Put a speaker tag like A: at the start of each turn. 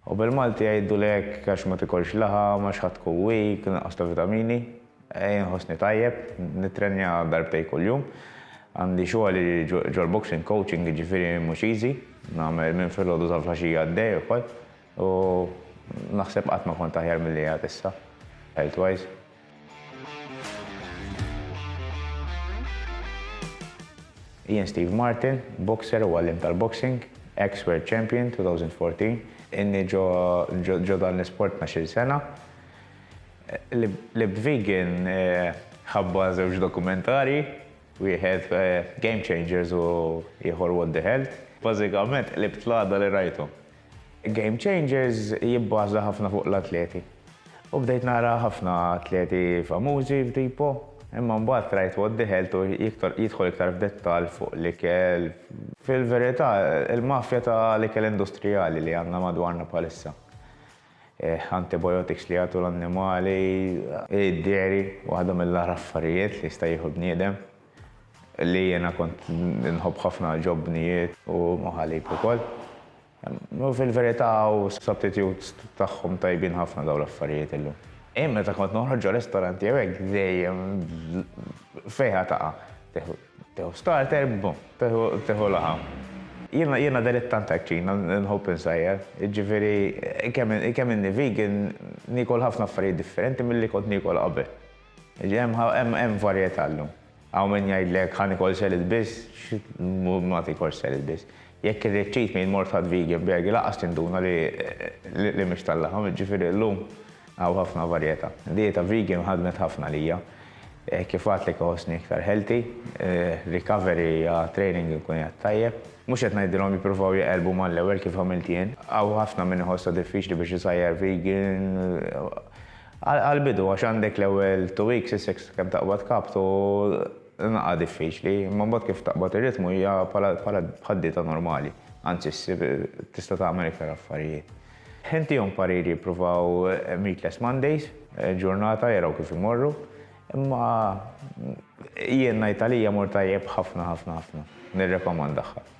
A: U bil-Malti jgħiduli hekk għax ma tikolx laħam, għax ħa tkun weak, nuqqas ta' vitamini. Ejja nħossni tajjeb, nittrenja darbtejn kuljum. Għandi xogħli ġol-boxing coaching jiġifieri mhux easy. Nagħmel minn filgħodu sa flaxija għaddej ukoll. U naħseb qatt ma kont aħjar milli qiegħed issa, health wise. Jien Steve Martin, boxer u għalliem tal-boxing, ex World Champion 2014. Inni ġo dan l-isport 12-il sena. Libt vegan ħabba żewġ dokumentarji, wieħed Game Changers u ieħor What the Health. Bażikament qlibt l-għada li rajthom. Game Changers jibbaża ħafna fuq l-atleti. U bdejt nara ħafna atleti famużi f'Dipo, imma mbagħad qrajt What the Health u jidħol iktar f'dettall fuq l-ikel, fil-verità il-mafja ta' l-ikel industrijali li għandna madwarna bħalissa, antibiotics li jagħtu l-annimali, id-dairy waħda mill-agħar affarijiet li jista' jieħu bniedem. Li jiena kont inħobb ħafna ġobnijiet. U moħalib ukoll. U fil-verità hu substitute tagħhom tajbin ħafna dawn l-affarijiet illum. Jien meta kont noħroġ ġo ristoranti jew hekk dejjem fejha taqa'. Tieħu starter, bum, tieħu laħam. Jiena jiena dilettant hekk ċin, inħobb insajjar. Jiġifieri kemm inni vegan niekol ħafna affarijiet differenti milli kont niekol qabel. Hemm varjetà llum. Hawn min jgħidlek ħa nikol selid biss, ma tikolx selid biss. Jekk irrid cheat meal mort ħadt vegan burger lanqas tinduna li mhix tal-laħam, jiġifieri llum hawn ħafna varjetà. Dieta vegan ħadmet ħafna għalija. Kif għadtlek iħossni iktar healthy, recovery għal training inkun qiegħed tajjeb. Mhux qed ngħidilhom jippruvaw jaqilbu mal-ewwel kif għamilt jien. Hawn ħafna min iħossha diffiċli biex isajjar vegan. Għall-bidu, għax għandek l-ewwel two weeks, is-six, kemm taqbad kapt u naqqa diffiċli, imma mbagħad kif taqbad ir-ritmu hija bħala bħad-dieta normali, anzi ssib tista' tagħmel iktar affarijiet. Ntihom parir jippruvaw Meatless Mondays, ġurnata jaraw kif imorru, imma jien ngħid għalija mur tajjeb ħafna ħafna ħafna, nirrekomandahha.